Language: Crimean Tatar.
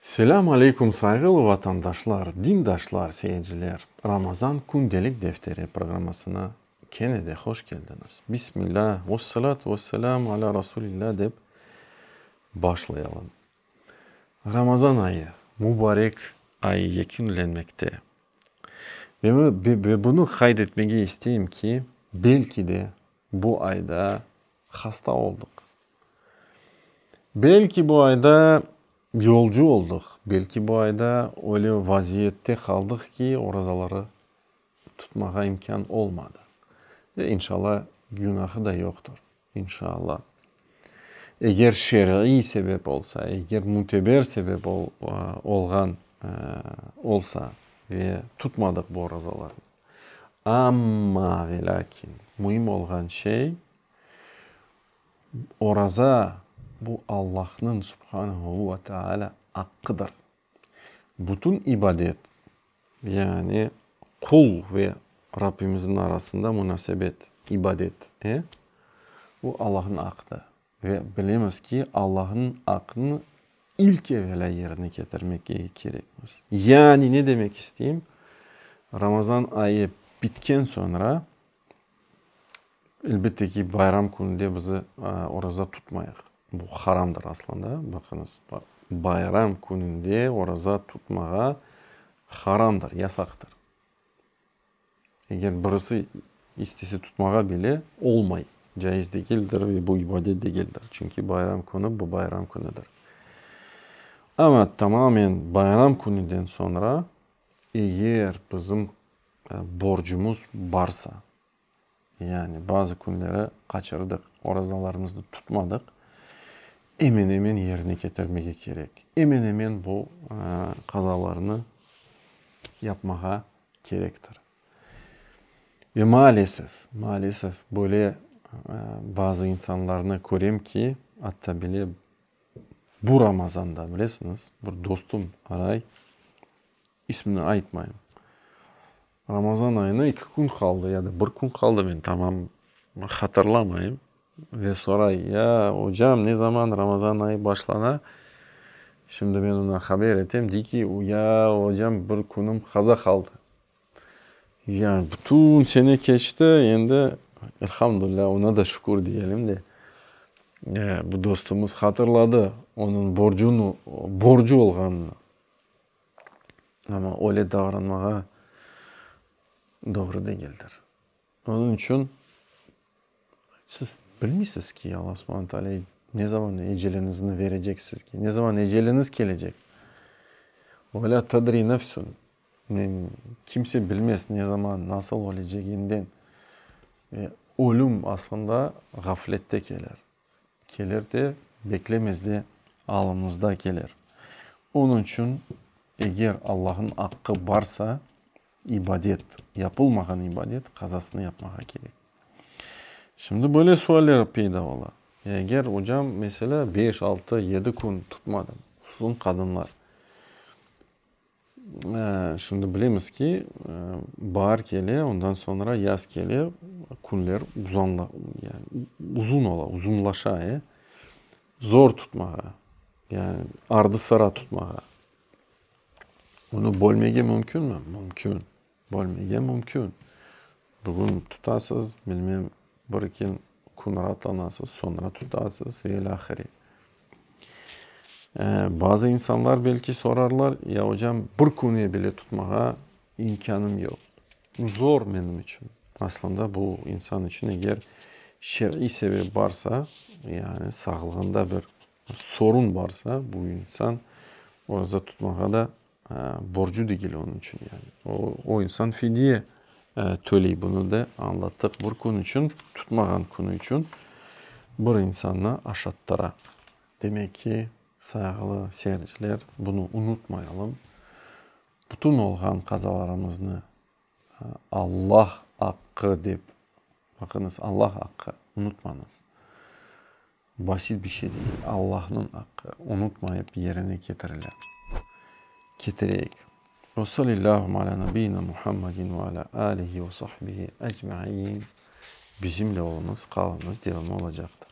Selâm aleyküm sayğılı vatandaşlar, dindaşlar, seyirciler! Ramazan kündelik defteri programmasına kene de hoş keldiñiz. Bismilâ, vesselâtu vesselâmu alâ Rasulillâ dep başlayalım. Ramazan ayı, mubarek ay yekünlenmekte. Ve bunı qayd etmege isteyim ki, belki de Bu ayda hasta oldıq. Belki bu ayda yolcu oldıq, belki bu ayda öyle vaziyette qaldıq ki, orazaları tutmağa imkân olmadı. E, inşalla, günahı da yoqtur. İnşalla. Eger şer'iy sebep olsa, eger müteber sebep olğan olsa ve tutmadıq bu orazalarnı. Amma ve lâkin, müim olğan şey, oraza, bu Allahnıñ, Subhanehu ve Teâlâ, aqqıdır. Bütün ibadet, yani qul ve Rabbimizniñ arasında munasebet, ibadet, e, bu Allahnıñ aqqıdır. Ve bilemiz ki, Allahnıñ aqını ilk evelâ yerine ketirmek kerekmiz. Yani ne demek isteyim, Ramazan ayı bitken soñra, elbette ki, bayram kününde biz oraza tutmayıq. Bu haramdır aslında, baqıñız, bayram kününde oraza tutmağa haramdır, yasaqtır. Eger birisi istese tutmağa bile olmay, caiz degildir ve bu ibadet degildir, çünki bayram künü bu bayram künüdir. Amma tamamen bayram künüden soñra eger bizim borcumuz barsa. Yani bazı künleri qaçırdıq, orazalarımıznı tutmadıq, emen-emen yerine ketirmege kerek. Emen-emen bu qazalarnı yapmağa kerektir. Ve maalesef, maalesef böyle bazı insanlarnı körem ki, atta bile bu Ramazanda, bilesiñiz, bir dostum aray, İsmini aytmayım. Ramazan ayına iki kün qaldı ya da bir kün qaldı, men tamam hatırlamayım. Ve soray, ya, ocam, ne zaman Ramazan ayı başlana? Şimdi men oña haber etem, dey ki, ya, ocam, bir künüm qaza qaldı. Ya, bütün sene keçti, endi, elhamdülilâ, oña da şükür diyelim de, bu dostumuz hatırladı onıñ borcunı, borcu olğanını. Amma öyle davranmağa doğru degildir. Onıñ içün siz bilmeysiz ki, Alla subhana taalâ ne zaman eceliñizni berecek sizge, ne zaman eceliñiz kelecek. Ve lâ tedri nefsun, kimse bilmez, ne zaman, nasıl öleceginden. Ölüm aslında ğaflette kelir. Keler de, beklemezde alınızda keler. Onıñ içün, eger Allahnıñ aqqı barsa, ibadet, yapılmağan ibadet qazasını yapmağa kerek. Şimdi böyle sualler peyda ola, Ya eger, ocam, meselâ, beş, altı, yedi kün tutmadım, hususan qadınlar. Şimdi bilemiz ki, baar kele, ondan soñra yaz kele, künler uzun ola, uzunlaşa, e. Zor tutmağa, yani ardı-sıra tutmağa. Bunı bölmege mümkünmi? Mümkün. Bölmege mümkün. Bugün tutasız, bilmem, bir-iki kün raatlanasız, soñra tutasız ve ilâ ahire. Bazı insanlar belki sorarlar, ya ocam, bir künge bile tutmağa imkânım yoq. Bu zor menim içün. Aslında bu insan içün eger şer'iy sebep barsa, yani sağlığında bir sorun barsa, bu insan orazat tutmağa da Borcu degil onıñ içün yani. O insan fidye töley. Bunı da añlattıq. Bir kün içün, tutmağan künü içün bir insannı aşattıra. Demek ki, sayğılı seyirciler, bunı unutmayalım. Bütün olğan qazalarımıznı Allah aqqı dep, baqıñız, Allah aqqı, unutmañız, basit bir şey degil, Allahnıñ aqqı, unutmayıp yerine ketirile. Ketireyik. Ve salillâhum alâ nabiyyina Muhammedin ve alâ âlihi ve sahbihi ecmaiin. Bizimle oluñız, qalıñız, devamı olacaqtır.